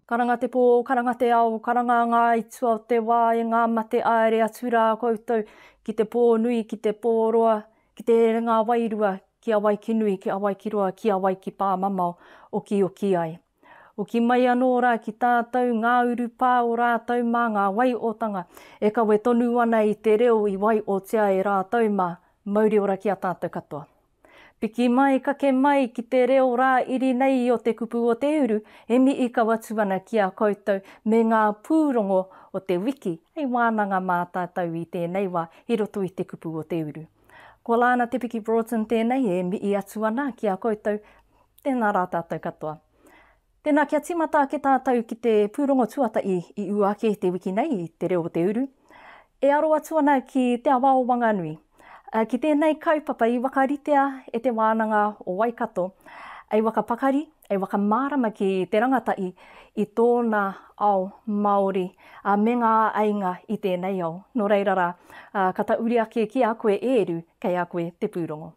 Karanga te pō, karanga te ao, karanga ngā aituā o te wā e ngā mate āere atu rā koutou ki te pō nui, ki te pō roa, ki te herenga wairua, ki a wai ki nui, ki a wai ki roa, ki a wai ki pāmamao, okioki ai. Hoki mai anō rā ki tātou ngā urupā o rātou mā ngā waiotanga e kawe tonu ana i te reo i waiotia e rātou mā, mauri ora ki a tātou katoa. Piki mai, kake mai ki te reo rā iri nei o te kupu o te uru e mihi kau atu ana ki a koutou me ngā pūrongo o te wiki hei wānanga mā tātou i tēnei wā i roto i te kupu o te uru. Ko Lana Te Piki Broughton tēnei e mihi atu ana ki a koutou Tēnā rā tātou katoa. Tēnā kia tīmata ake tātou ki te pūrongo tuatahi i ū ake te wiki nei i Te Reo o te Uru. E aro atu ana ki Te Awa o Wanganui. Ki tēnei kaupapa i whakaritea e Te Wānanga o Waikato ei whakapakari, ei whakamārama ki te rangatahi i tōna ao Māori me ngā āinga i tēnei ao. Nō reira rā, ka tauri ake ki a koe e Eru, kei a koe te pūrongo.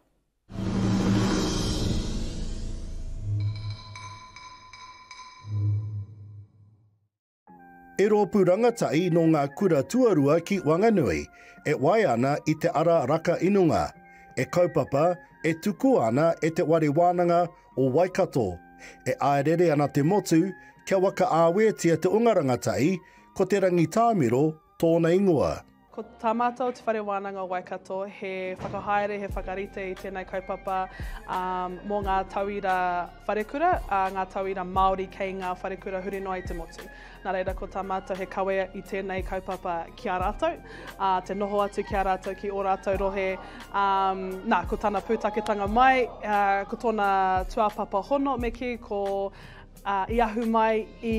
He rōpū rangatahi nō ngā kura tuarua ki Wanganui, e waea ana i te ara raka inunga, e kaupapa, e tukua ana e Te Ware Wānanga o Waikato. E āerere ana te motu kia wakaāwetia te onga rangatahi, ko Te Rangitāmiro, tōna ingoa. Ko tā mātou te Whare Wānanga o Waikato he whakahaere, he whakarite i tēnei kaupapa mō ngā tauira wharekura, ngā tauira Māori kei ngā wharekura huri noa i te motu. Nā reira ko tā mātou he kawe i tēnei kaupapa ki a rātou, te noho atu ki a rātou ki ō rātou rohe. Nā, ko tana pūtaketanga mai, ko tōna tuāpapa hono me kī, ko i ahu mai i.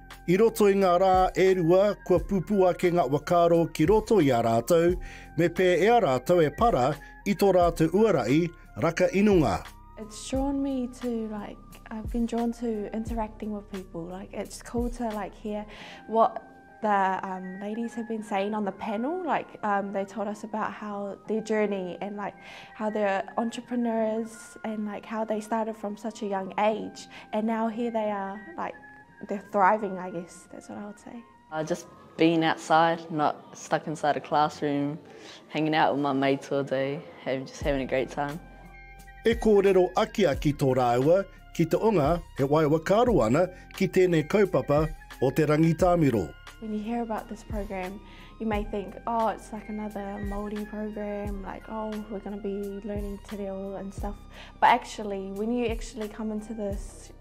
I roto i ngā rā e rua, kua pupū ake ngā whakaaro ki roto i a rātou, me pē e a rātou e para i tō rātou uarahi raka inunga. It's drawn me to like I've been drawn to interacting with people like it's cool to like hear what the um, ladies have been saying on the panel like um, they told us about how their journey and like how they're entrepreneurs and like how they started from such a young age and now here they are like They're thriving I guess, that's what I would say. Uh, just being outside, not stuck inside a classroom, hanging out with my mates all day, having, just having a great time. E kōrero akiaki tō rāua ki te onga e wae wakaaro ana ki tēnei kaupapa o te rangitāmiro. When you hear about this program, you may think, oh, it's like another Māori program, like, oh, we're going to be learning te reo and stuff. But actually, when you actually come into this,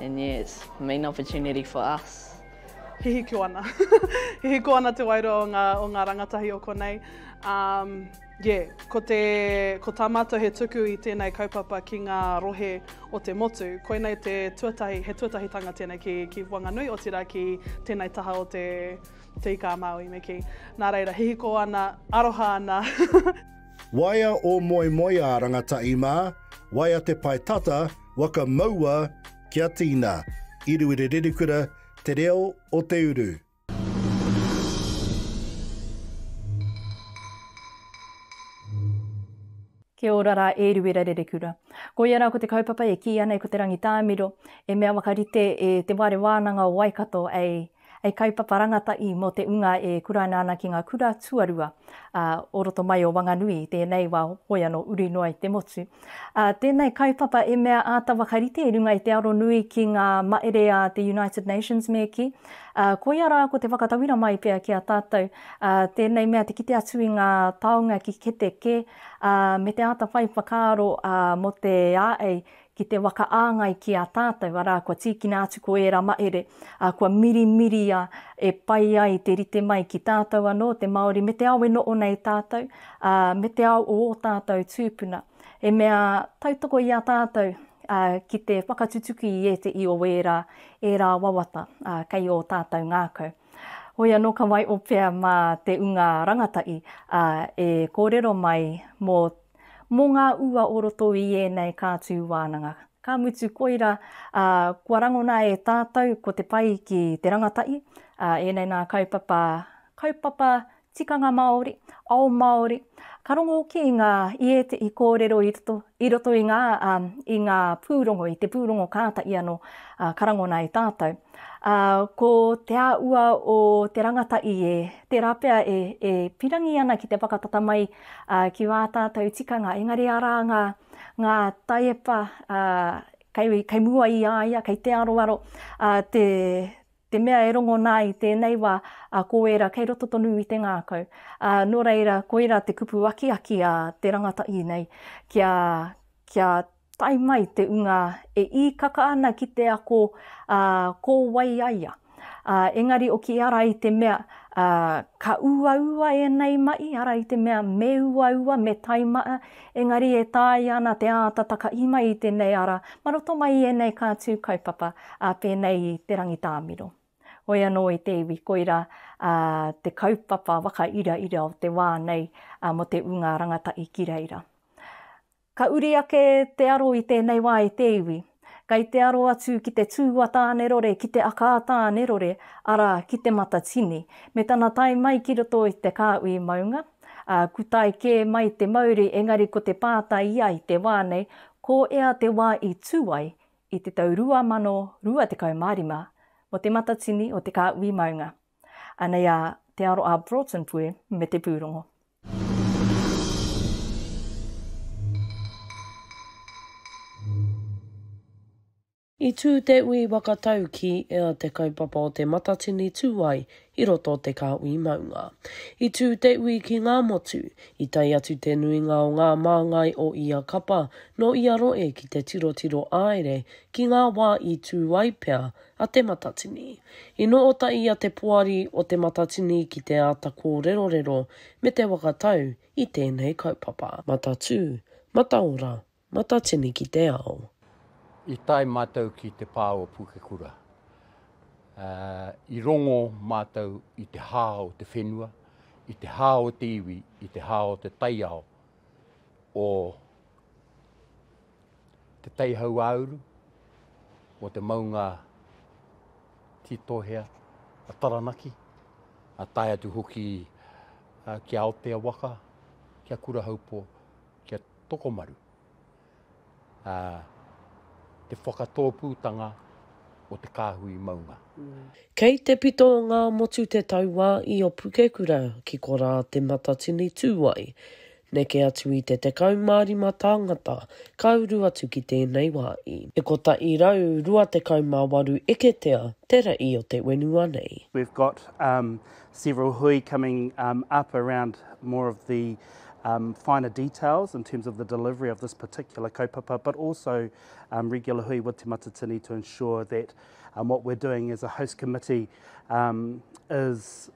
And yes, main opportunity for us. Hihiko ana. Hihiko ana te wairua o ngā, o ngā rangatahi o konei. Um, yeah, ko, te, ko tā mātou he tuku i tēnei kaupapa ki ngā rohe o te motu. Koinei te tuatahi, he tuatahitanga tēnei ki, ki Wanganui, otirā ki tēnei taha o te, te Ika a Māui me ki. Nā reira, hihiko ana, aroha ana. Waea ō moemoeā rangatahi mā, waea te pae tata, waka maua kia tīna, i Ruerererekura, Te Reo o Te Uru. Kia ora rā e Ruerererekura. Koia rā ko te kaupapa e kīia nei ko Te Rangitāmiro, e mea whakarite e Te Whare Wānanga o Waikato, ei, Hei kaupapa rangatahi mō te ūnga e kuraina ana ki ngā kura tuarua o roto mai o Wanganui i tēnei wā hoi anō uri noa i te motu. Tēnei kaupapa e mea āta whakarite i runga i te aro nui ki ngā mahere a te United Nations me kī, koia rā ko te whakatauira mai pea ki a tātou tēnei mea te kite atu i ngā taonga ki kete kē me te āta whai whakaaro mō te āei ki te whakaāngai ki a tātou, arā, kua tīkina atu ko ērā mahere, ā, kua mirimiria e pai ai te rite mai ki tātou anō, te Māori, me te ao e noho nei tātou, ā, me te ao o ō tātou tūpuna, he mea tautoko i a tātou, ā, ki te whakatutuki i ētehi o ērā, ērā wawata, ā, kei ō tātou ngākau. Hoi anō ka waioh pea mā te unga rangatahi, ā, e kōrero mai mō. Mō ngā ua o roto i ēnei kātū wānanga. Ka mutu koira, ā, kua rangona e tātou ko te pai ki te rangatahi, ā, ēnei nā kaupapa, kaupapa tikanga Māori, ao Māori, ka rongo hoki i ngā, i ētehi kōrero i roto, i roto i ngā, ā, i ngā pūrongo, i te pūrongo kātahi anō, ā, ka rangona e tātou. Ā, ko te āhua o te rangatahi e, tērā pea e, e pirangi ana ki te whakatata mai ā, ki ā tātou tikanga, engari arā ngā, ngā taiepa, ā, kei, kei mua i a ia, kei te aroaro, ā, te, te mea e rongo nā i tēnei wā, ā, ko ērā kei roto tonu i te ngākau. Ā, nō reira, koirā te kupu akiaki a te rangatahi nei, kia, kia. Tae mai te unga e īkaka ana ki te ako, ā, ko wai a ia? Ā, engari oki ara i te mea, ā, ka uaua ēnei mahi, ara i te mea me uaua, me tae mai, engari e taea ana te āta takahi mai i tēnei ara mā roto mai i ēnei kātū kaupapa, ā, pēnei i Te Rangitāmiro. Hoi anō e te iwi, koirā, ā, te kaupapa whakairaira o te wā nei, ā, mō te unga rangatahi ki reira. Ka uri ake te aro i tēnei wā e te iwi. Kei te aro atu ki te tū a Tānerore, ki te aka a Tānerore, arā, ki Te Matatini. Me tana tae mai ki roto i te kāhui maunga, ā, kutae kē mai te mauri, engari ko te pātai i a i te wā nei, ko ea te wā i tū ai, i te tau 2025, mō Te Matatini o te kāhui maunga. Anei a Te Aro a Broughton Pue me te pūrongo. I tū te ui waka tau ki ea te kaupapa o Te Matatini tū ai i roto o te kāhui maunga. I tū te ui ki ngā motu, i tae atu te nuinga o ngā māngai o ia kapa nō ia roe ki te tirotiro āere ki ngā wā i tū ai pea a Te Matatini. I noho ota i a Te Poari o Te Matatini ki te āta kōrerorero me te whakatau i tēnei kaupapa. Matatū, Mataora, Matatini ki te ao. I tae mātou ki te pā o Pukekura. I rongo mātou i te hā o te whenua, i te hā o te iwi, i te hā o te taiao o. te teihau ā-uru mō te maunga Tītohea a Taranaki, a tae atu hoki ki Aotea waka, ki a Kurahaupō, ki a Tokomaru. A, te whakatōpūtanga o te kāhui maunga. Kei te pito o Ngāmotu te tauā i Opukekura ki korā te Matatini tū ai. Neke atu i te 15 tāngata ka uru atu ki tēnei wā i. E 128 eketea te rei o te whenua nei. We've got several hui coming up around more of the finer details in terms of the delivery of this particular kaupapa but also regular hui with Te Matatini to ensure that what we're doing as a host committee is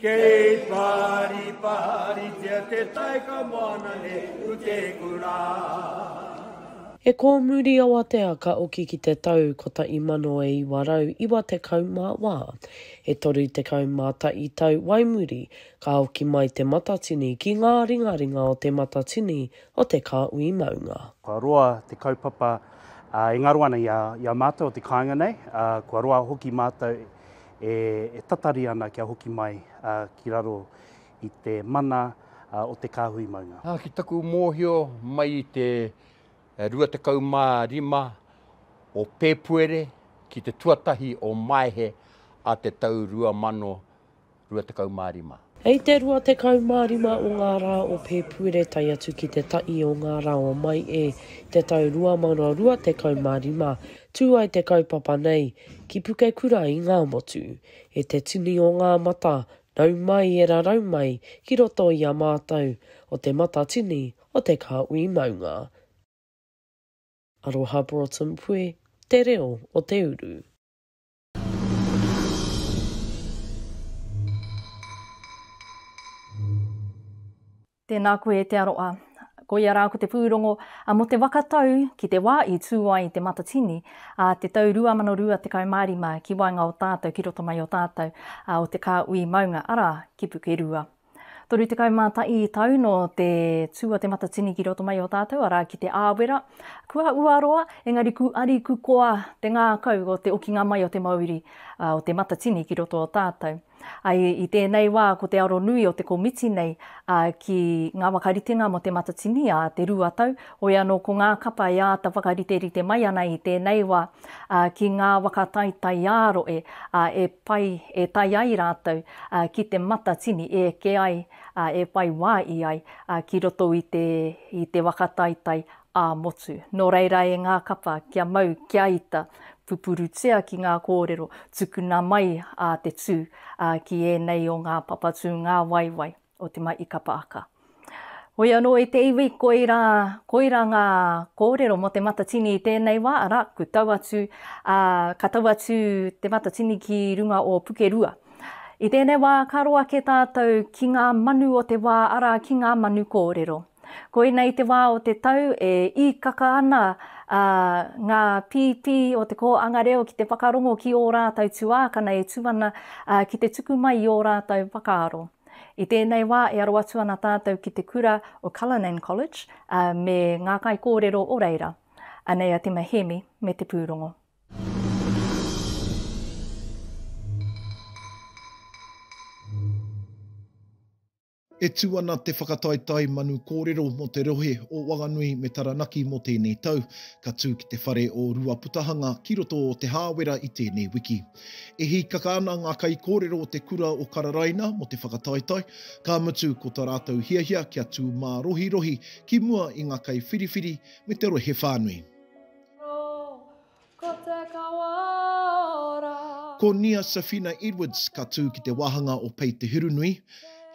Kei pāripāritia te tai ka moana ne u te kura. E kōmuri awatea ka oki ki te tau 1994, e 31 tau wai muri ka oki mai te matatini ki ngā ringaringa o te matatini o te kāhui maunga. Kua roa te kaupapa e ngaro ana i a mātou o te kāinga nei, kua roa hoki mātou e tatari ana kia hoki mai ki raro i te mana o te kāhui maunga. Ki taku mōhio, mai i te 25 o Pēpuere ki te tuatahi o Maehe a te tau 2025. Hei te 25 o ngā rā o Pēpuere tae atu ki te taʻi o ngā rā o Maeʻe te tau 2025, tū ai te kaupapa nei ki Pukekura i Ngāmotu. E te tini o ngā mata, nau mai e rarau mai ki roto i a mātou, o Te Matatini o Te Kāhui Maunga. Aroha Broughton Puē te reo o te uru. Tēnā koe e te aroa. Ko ia rā ko te pūrongo mō te waka tau ki te wā i tū ai te Matatini a te tau 2025 ki waenga o tātou ki roto mai o tātou o te kāhui maunga, arā, ki Pukerua. Toru tekau mā taʻi tau nō te tū a Te Matatini ki roto mai o tātou, arā, ki Te Āwera. Kua uaroa, engari ku ari ku koa te ngākau o te okinga mai o te mauri o Te Matatini ki roto o tātou. Ai, i tēnei wā ko te aro nui o te komiti nei ki ngā whakaritenga mō Te Matatini a Te Rua Tau, Hoi anō ko ngā kapa e āta whakariterite mai ana i tēnei wā ki ngā waka taitaiāroe e pai e tae ai rātou ki te matatini e eke ai, e whai wā i ai ki roto i te i te waka taitai ā-motu. Nō reira e ngā kapa kia mau kia ita, pupurutia ki ngā kōrero tukuna mai a te tū ki ēnei o ngā papatū ngāwaiwai. o Te Mai i Kapaaka. Hoi anō i te iwi, koirā, koirā ngā kōrero mō Te Matatini i tēnei wā, arā, ku tau atu, ā, ka tau atu Te Matatini ki runga o Pukerua. I tēnei wā, ka roa kē tātou ki ngā manu o te wā, arā, ki ngā manu kōrero. Koina i te wā o te tau, e īkaka ana, ā, ngā pīpī o te kōanga reo ki te whakarongo ki ō rātou tuākana e tū ana, ā, ki te tuku mai i ō rātou whakaaro. I tēnei wā e aro atu ana tātou ki te kura o Cullinan College, ā, me ngā kaikōrero o reira. Anei a Tima Hēmi me te pūrongo. E tū ana Te Whakataetae Manu Kōrero mō te rohe o Wanganui me Taranaki mō tēnei tau. Ka tū ki te whare o Ruaputahanga ki roto o Te Hāwera i tēnei wiki. E hīkaka ana ngā kaikōrero o te kura o Kararaina mō te whakataetae, ka mutu ko tā rātou hiahia kia tū mārohirohi ki mua i ngā kaiwhiriwhiri me te rohe whānui. Ko Nia Safina Edwards ka tū ki te wāhanga o Pei Te Hurunui.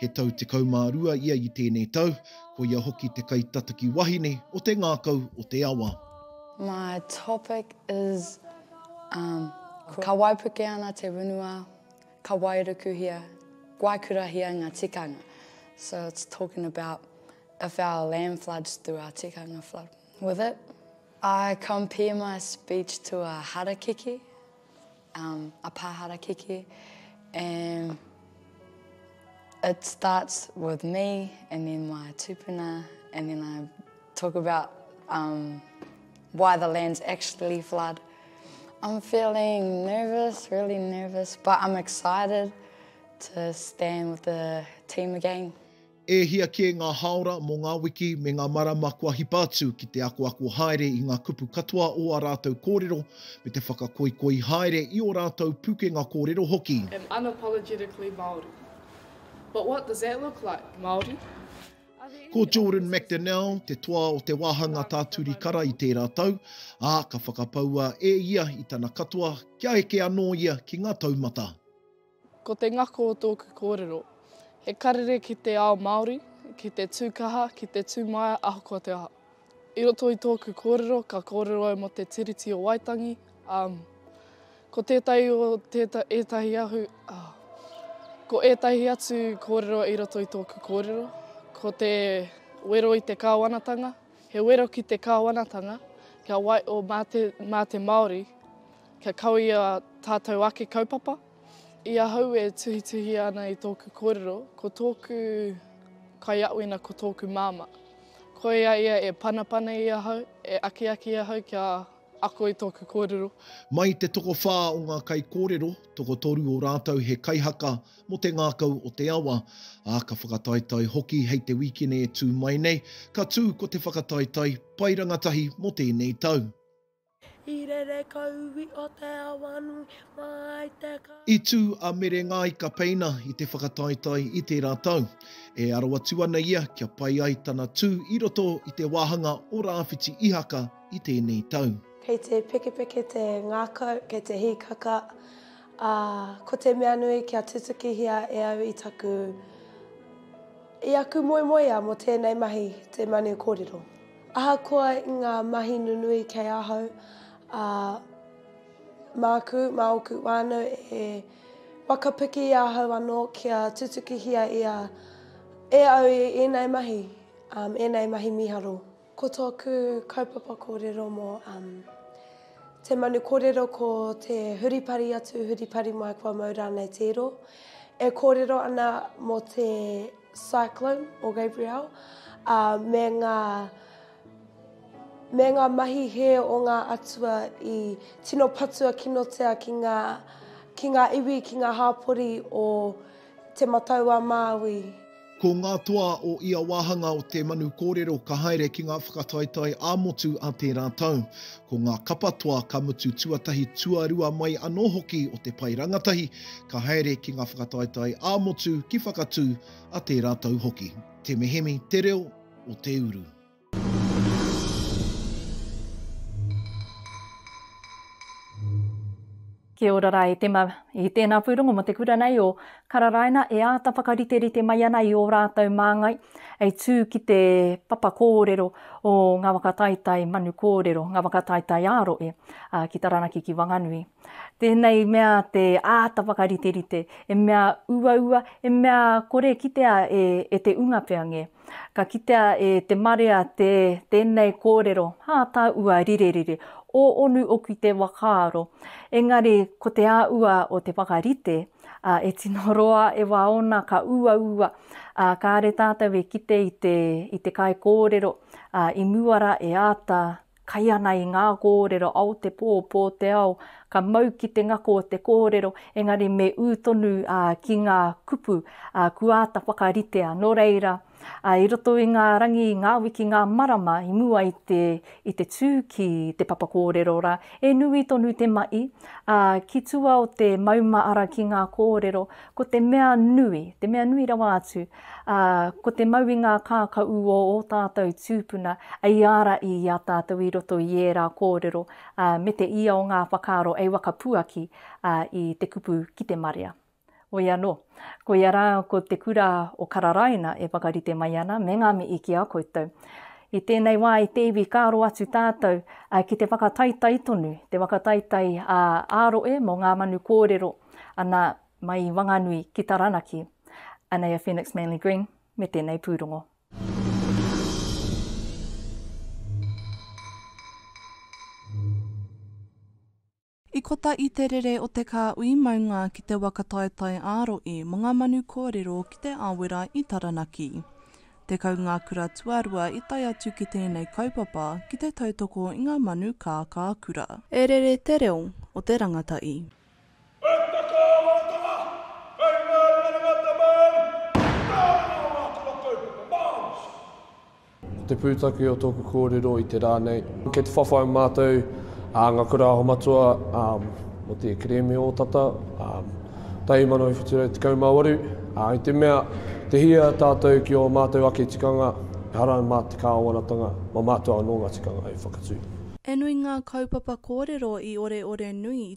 He tau 12 ia i tēnei tau, ko ia hoki te kaitataki wahine o te ngākau o te awa. My topic is Um, ka waipuke ana te whenua, ka wairukuhia, waikurahia ngā tikanga. So it's talking about if our land floods, do our tikanga flood with it? I compare my speech to a harakeke, um, a pā harakeke, and it starts with me and then my tupuna and then I Talk about um, why the lands actually flood. I'm feeling nervous, really nervous, but I'm excited to stand with the team again. E hia kē ngā haora mō ngā wiki me ngā marama kua hipa atu ki te akoako haere i ngā kupu katoa o ā rātou kōrero me te whakakoikoi haere i ō rātou pukenga kōrero hoki. Am unapologetically Māori. But what does that look like, Māori? Ko Jordan McDonnell te toa o te wāhanga tā Turi Kara i tērā tau, ā, ka whakapaua e ia i tana katoa kia eke anō ia ki ngā taumata. Ko te ngako o tōku kōrero, he karere ki te ao Māori, ki te tū kaha, ki te tū maia ahakoa te aha. I roto i tōku kōrero, ka kōrero au mō te Tiriti o Waitangi. Um, ko tētahi o tēta, ētahi ahu, oh, ko ētahi atu kōrero i roto i tōku kōrero, ko te wero i te kāwanatanga, he wero ki te kāwanatanga, kia wai, o mā te, mā te Māori, kia kawia tātou ake kaupapa, I ahau e tuhituhia ana i tōku kōrero, ko tōku kaiaoina ko tōku māmā. Ko ia ia e panapana i ahau, e akiaki i ahau kia ako i tōku kōrero. Mai te tokowhā o ngā kaikōrero, tokotoru o rātou he kaihaka mō te ngākau o te awa, ā, ka whakataetae hoki hei te wīkene e tū mai nei, ka tū ko te whakataetae Pai Rangatahi mō tēnei tau. I rere kauwi o te awa nui mai te ka. I tū a Mere Ngāi Kapeina i te whakataetae i tērā tau. E aro atu ana ia kia pai ai tana tū i roto i te wāhanga o Rāwhiti Ihaka i tēnei tau. Kei te pekepeke te ngākau, kei te hīkaka, ā, ko te mea nui kia tutukihia e au i taku, i aku moemoeā mō tēnei mahi te manu kōrero. Ahakoa i ngā mahi nunui kei ahau, ā, māku, mā ōku whānau e whakapiki i ahau anō kia tutukihia ia e au i ēnei mahi, ēnei mahi mīharo. Ko tōku kaupapa kōrero mō te manu kōrero ko te huripari atu, huripari mai kua mau rānei te iro. E kōrero ana mō te Cyclone o Gabrielle, ā, me ngā, me ngā mahi hē o ngā atua i tino patua kinotia ki ngā, ki ngā iwi, ki ngā hāpori o Te Matau-a-Māui. Ko ngā toa o ia wāhanga o te manu kōrero ka haere ki ngā whakataetae ā-motu a tērā tau. Ko ngā kapa toa ka mutu tuatahi tuarua mai anō hoki o te pae rangatahi ka haere ki ngā whakataetae ā-motu ki Whakatū a tērā tau hoki. Te Mehemi, Te Reo o Te Uru. Kia ora rā e Tema. I tēnā pūrongo mō te kura nei o Kararaina e āta whakariterite mai ana i ō rātou māngai hei tū ki te papa kōrero o ngā waka taitai manu kōrero, ngā waka taitai ā-rohe ki Taranaki, ki Wanganui. Tēnei mea te āta whakariterite, he mea uaua, he mea kore kitea e te unga pea ngē. Ka kitea e te marea te tēnei kōrero, hā tāua rirerire, o onu oku te whakaaro, engari ko te āua o te whakarite, ā, e tino roa e wā ōna ka uaua, ā, kāre tātou e kite i te, i te kaikōrero, ā, i mua rā e āta Kai ana i ngā kōrero ao te pō, pō te ao, ka mau ki te ngako te kōrero, engari me ū tonu ki ngā kupu kua āta whakaritea. Nō reira, i roto i ngā rangi, i ngā wiki, ngā marama i mua i te i te tū ki te papa kōrero rā, e nui tonu te maʻi, ā, ki tua o te mauma ara ki ngā kōrero, ko te mea nui, te mea nui rawa atu, Ā, ko te mau i ngā kākaū o ō tātou tūpuna, i āra i i a tātou i roto i ērā kōrero, ā, me te ia o ngā whakaaro ei wakapuaki, ā, i te kupu ki te marea. Hoi anō, koia rā ko te kura o Kararaina e whakarite mai ana, me ngā mihi ki a koutou. I tēnei wā i te iwi ka aro atu tātou, ā, ki te whakataitai tonu, te whakataitai, ā, ā roe mō ngā manu kōrero, ana, Mai i Wanganui ki Taranaki. Anei a Phoenix Manly Green me tenei pūrongo. I kota i te rere o te kā ui maunga ki te waka taetae ā-roe mo nga manu kōrero ki te Awera i Taranaki. Tekau ngā kura tuarua i tae atu ki tēnei kaupapa ki te tautoko i ngā manu kā kā kura. E rere te reo o te rangata i. He tuna kāwanatanga hei māringaringa te Māori, kāore ngā wā kua kaupapa Māori hoki. Ko te pūtake o tōku kōrero i te rā nei, kei te whawhai mātou, ngā kura aho matua, mō te kerēme o tata, 1718, i te mea, te hia tātou ki ō mātou ake tikanga, ehara mā te kāwanatanga, mā mātou anō ngā tikanga hei whakatū. He nui ngā kaupapa kōrero i oreore nui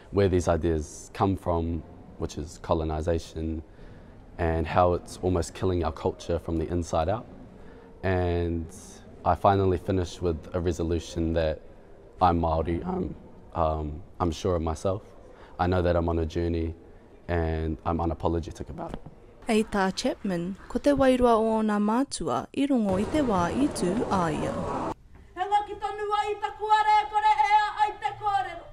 where these ideas come from, which is colonisation and how it's almost killing our culture from the inside out. And I finally finished with a resolution that I'm Māori, I'm, um, I'm sure of myself. I know that I'm on a journey and I'm unapologetic about it. Hei tā Chapman, ko te wairua o ōna mātua i rongo i te wā i tū a ia. He ngaki tonu ai ta kua rekore e a ai te korero.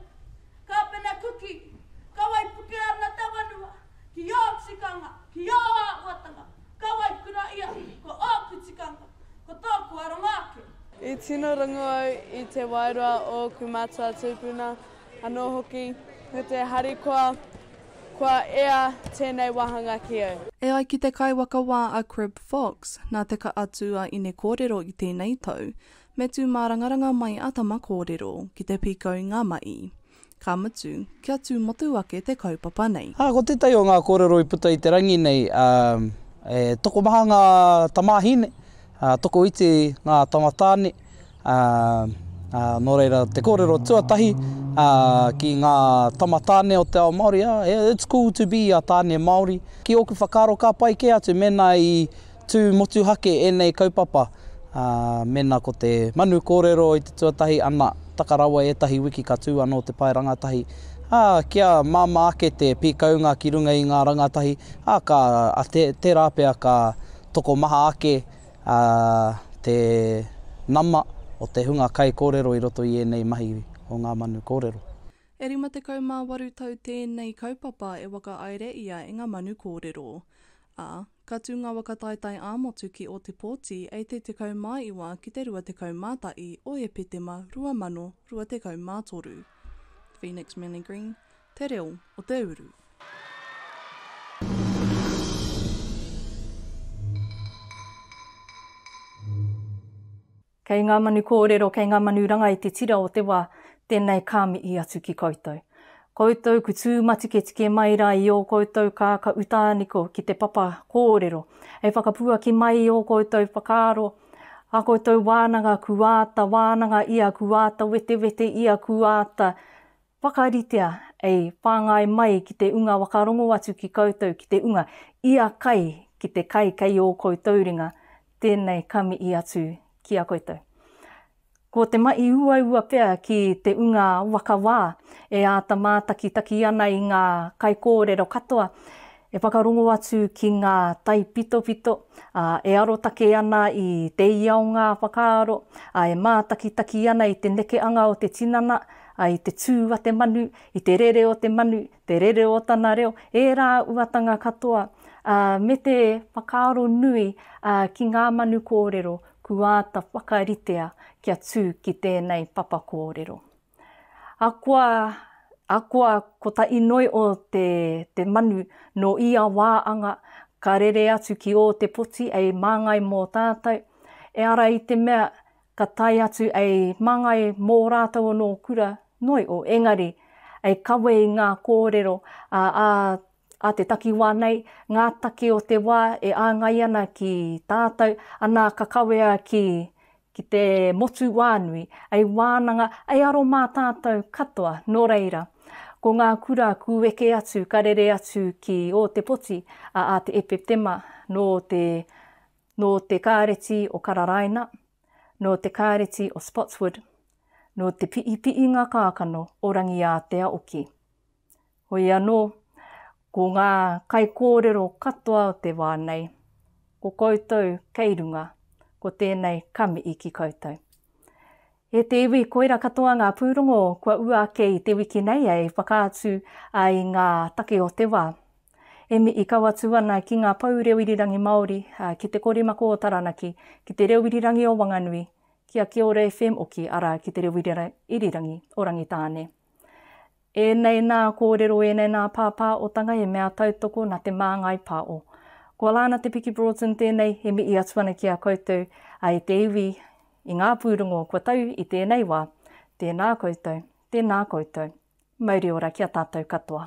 Ka pena Kuki, Ka waipuke ana te wanua ki o tikanga, ki o awatanga, ka waikura ia ko oku tikanga, ko toku aronga ake. I tino rongu au i te wairua o oku matua tupuna, Anō hoki, me te harikoa, kua ea tēnei wāhanga ki au. E ai ki te kaiwaka wā a Crib Fox, nā te ka atu a Inekōrero i tēnei tau, me tū mārangaranga mai a Tamakōrero ki te pīkau i ngā mahi, ka mutu, kia tū motu ake te kaupapa nei. Ā, ko tētahi o ngā kōrero i puta i te rangi nei, ā, e tokomaha ngā tamāhine, ā, tokoiti ngā tamatāne, Ā, ā, nō reira, te kōrero tuatahi, ā, ki ngā tama tāne o te ao Māori, ā, it's cool to be a tāne Māori. Ki ōku whakaaro ka pai kē atu mēnā i tū motuhake ēnei kaupapa, ā, mēnā ko te manu kōrero i te tuatahi, ana, taka rawa ētahi wiki ka tū anō te pae rangatahi, ā, kia māmā ake te pīkaunga ki runga i ngā rangatahi, ā, ka, ā, tērā pea ka tokomaha ake. ā, te nama o te hunga kaikōrero i roto i ēnei mahi o ngā manu kōrero. E 58 tau tēnei kaupapa e whakaaere ia e ngā manu kōrero. Ā, ka tū ngā waka taetae ā-motu ki Ōtepōti ei te 19 ki te 21 o Epetema 2023. Phoenix Millie Green, te reo o te uru. Kei ngā manu kōrero, kei ngā manu ranga i te tira o te wā, tēnei ka mihi atu ki koutou. Koutou ku tūmatiketike mai rā i ō koutou kāka utāniko ki te papa kōrero, hei whakapuaki mai i ō koutou whakaaro, ā koutou wānanga ku āta wānanga ia, ku āta wetewete ia, ku āta Whakaritea, e whāngai mai ki te unga whakarongo atu ki koutou ki te unga, ia kai ki te kai kei ō koutou ringa, tēnei ka mihi atu ki a koutou. Ko te mahi uaua pea ki te unga whakawā, e āta mātakitaki ana i ngā kaikōrero katoa, E whakarongo atu ki ngā taipitopito, ā, e arotake ana i te ia o ngā whakaaro, ā, e mātakitaki ana i te nekeanga o te tinana, ā, i te tū a te manu, i te rere o te manu, te rere o tana reo, ērā uatanga katoa, ā, me te whakaaro nui, ā, ki ngā manu kōrero kua āta whakaritea kia tū ki tēnei papa kōrero. Akoa, akoa ko ta inoi o te, te manu no ia wa anga, ka rere atu ki o te poti ei mangai mo tatou, e ara i te mea ka tae atu ei mangai mo ratou ono kura, noi o engari, ei kawe i nga korero a a A te takiwā nei, ngā take o te wā e āngai ana ki tātou, anā ka kawea ki, ki te motu wānui, ei wānanga, ei aro mā tātou katoa, nō reira, ko ngā kura kūeke atu ka rere atu ki Ōtepoti, a, a Te Epetema, nō te, nō te Kāreti o Kararaina, nō te Kāreti o Spotswood, nō te piipiinga kākano o Rangiātea oki. Hoi anō, ko ngā kaikōrero katoa o te wā nei, ko koutou kei runga, ko tēnei kamii ki koutou. E te iwi, koira katoa ngā pūrongo kua ua ake i te wiki nei hei whakaatu i ngā take o te wā. E mii kau atu ana ki ngā pou reo irirangi Māori, ki te korimako o Taranaki, ki te reo irirangi o Wanganui, ki a Kiora FM oki, arā, ki te reo irirangi o Rangitāne. Ēnei nā kōrero, ēnei nā pāpāotanga he mea tautoko nā Te Māngai Pāo. Ko Alana Te Piki Broughton tēnei e mihi atu ana ki a koutou, a e te iwi, i ngā pūrongo kua tau i tēnei wā. Tēnā koutou, tēnā koutou. Mauri ora ki a tātou katoa.